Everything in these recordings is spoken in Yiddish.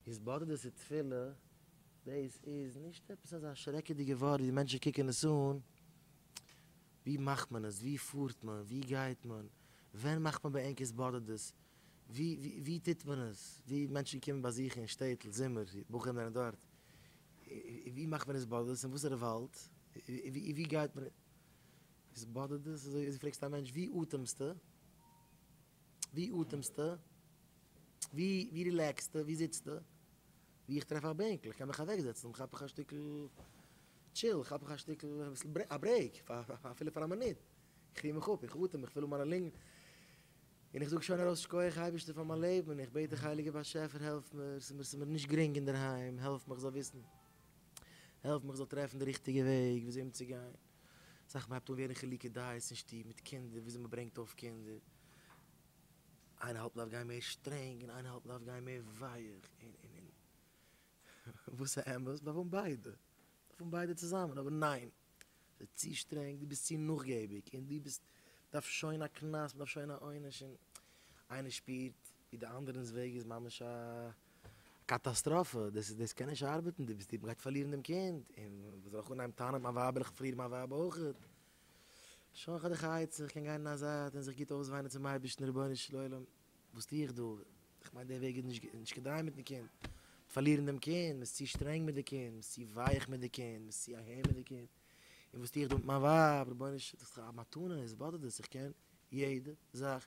איז בארדער צו תפילה, דאס איז נישט עפעס אזא שרעקעדיגע ווארט ווי מענטשן קוקן עס אן, ווי מאכט מען עס, ווי פארט מען, ווי גייט מען, ווען מאכט מען בענקערס בארדערס, ווי טוט מען עס, ווי מענטשן קומען באזוכן אין שטעטל זומער, בחורים זענען דארט, ווי מאכט מען עס בארדערס, אין וואסערע וואלד, ווי גייט מען, איז בארדערס, אזוי פרעגסטו א מענטש, ווי אטעמסטו? ווי אטעמסטו? ווי רילעקסטו? ווי זיצסטו? ווי איך טרעף א בענקל איך קען מיך אוועק זעצן כאפ איך א שטיקל טשיל, כאפ איך א שטיקל א ברעיק אפילו פאר א מינוט, איך ריר מיך אפ, איך אטעם, איך פיל אן מיינע לונגן, און איך זאג שוין ארויס שקויעך אייבערשטער פאר מיין לעבן, און איך בעט דיך הייליגער באשעפער העלף מיר, ס'איז מיר נישט גרינג אינדערהיים, העלף מיך זאל וויסן, העלף מיך זאל טרעפן די ריכטיגע וועג וויאזוי אומצוגיין. זאכן מ'הייבט אן ווערן חילוקי דעות אין שטוב מיט קינדער וויאזוי מ'ברענגט אויף קינדער, איינער האלט מ'דארף גיין מער שטרענג און איינער האלט מ'דארף גיין מער ווייעך און און און וואס א אמת? דארף האבן ביידע, דארף האבן ביידע צוזאמען, אבער ניין! ס'איז צו שטרענג, דו ביסט צו נאכגעביג און דו ביסט דארף שוין א קנס, מ'דארף שוין א עונש און איינער שפירט ווי די אנדערענס וועג איז ממש א קאטאסטראפע, דאס דאס קען נישט ארבעטן, די ביסט די מ'גייט פארלירן דעם קינד, און ווען זאל איך אנהייבן טענה'ן מיין ווייב וועל איך פארלירן מיין ווייב אויכעט, שוין איך האב די חיות איך קען גיין אין א זייט און זיך גוט אויסוויינען צום אייבערשטן רבונו של עולם וואס טו איך דא, איך מיין די וועג איז נישט נישט כדאי מיטן קינד, מ'וועט פארלירן דעם קינד, מ'איז צו שטרענג מיט די קינד, מ'איז צו ווייעך מיט די קינד, מ'איז צו אהער מיט די קינד, און וואס טו איך דא מיט מיין ווייב, רבונו של עולם איך האב א מתנה, וואס באדערט דאס, איך קען יעדע זאך.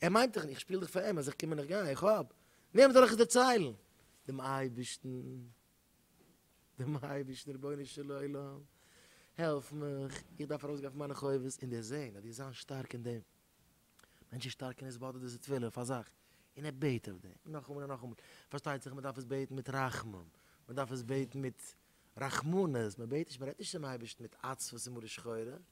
ער מיינט דיך נישט, איך שפיל דיך פאר אים, אז איך קום און איך גיי, איך האב, וועם זאל איך עס דערציילן? דעם אייבערשטן, דעם אייבערשטן, רבונו של עולם, העלף מיך, איך דארף ארויסגיין פון מיינע חובות און דערזען אז דו זיינס שטארק אין דעם. מענטש איז שטארק אין עס באדערט דאס איז תפילה פאר זיך, און ער בעט אויף דעם, נאכאמאל און נאכאמאל, פארשטייט זיך מען דארף עס בעטן מיט רחמים, מען דארף עס בעטן מיט רחמנות, מען בעט נישט, מען רעדט נישט צום אייבערשטן מיט עצבות און מרה שחורה,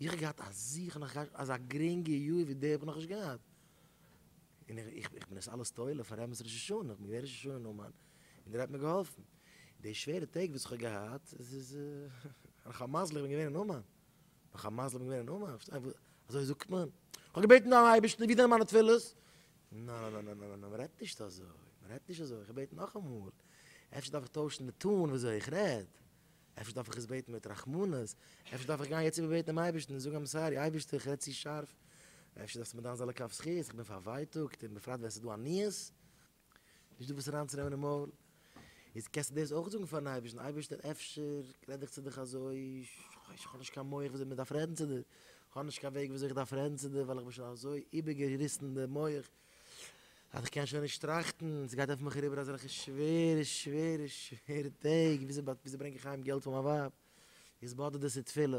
איך האב געהאט א זיכער נאך קיין אזא גרינגע יאר ווי די האב איך נאכנישט געהאט, און איך איך בין עס אלעס תולה פאר רמות ראש השנה, איך בין געווען ראש השנה נאמן, און ער האט מיר געהאלפן, די שווערע טעג וואס איך האב געהאט, עס איז נאך א מזל איך בין געווען אין אומאן, נאך א מזל איך בין געווען אין אומאן, פארשטייסט, אזוי זאגט מען, איך האב געבעטן דעם אייבערשטן ווי זענען מיינע תפילות, נא נא נא נא נא מען רעדט נישט אזוי, מען רעדט נישט אזוי, איך בעט נאכאמאל, אפשר דארף איך טוישן די טאן ווי אזוי איך רעד. אפשר דארף איך עס בעטן מיט רחמנות, אפשר דארף איך גיין יעצט איבער בעטן דעם אייבערשטן און זאגן עם סארי אייבערשטער איך רעד צו שארף, אפשר דארפסטו מיר דן זיין לכף זכות, איך בין פארווייטאגט און בפרט ווען עס איז דא עניות, נישט דא וואס אריינצונעמען אין מויל, איז קענסטו דאס אויך זאגן פארן אייבערשטן, אייבערשטער אפשר רעד איך צו דיך אזוי, איך האב נישט קיין מח ווי אזוי מען דארף רעדן צו דיר, איך האב נישט קיין וועג ווי אזוי איך דארף רעדן צו דיר ווייל איך בין שוין אזוי איבערגעריסן די מח, אז איך קען שוין נישט טראכטן, ס'גייט אויף מיך אריבער אזעלכע שווערע שווערע שווערע טעג, וויאזוי ברענג איך אהיים געלט פאר מיין ווייב, איך זיץ באדערט דאס איז תפילה.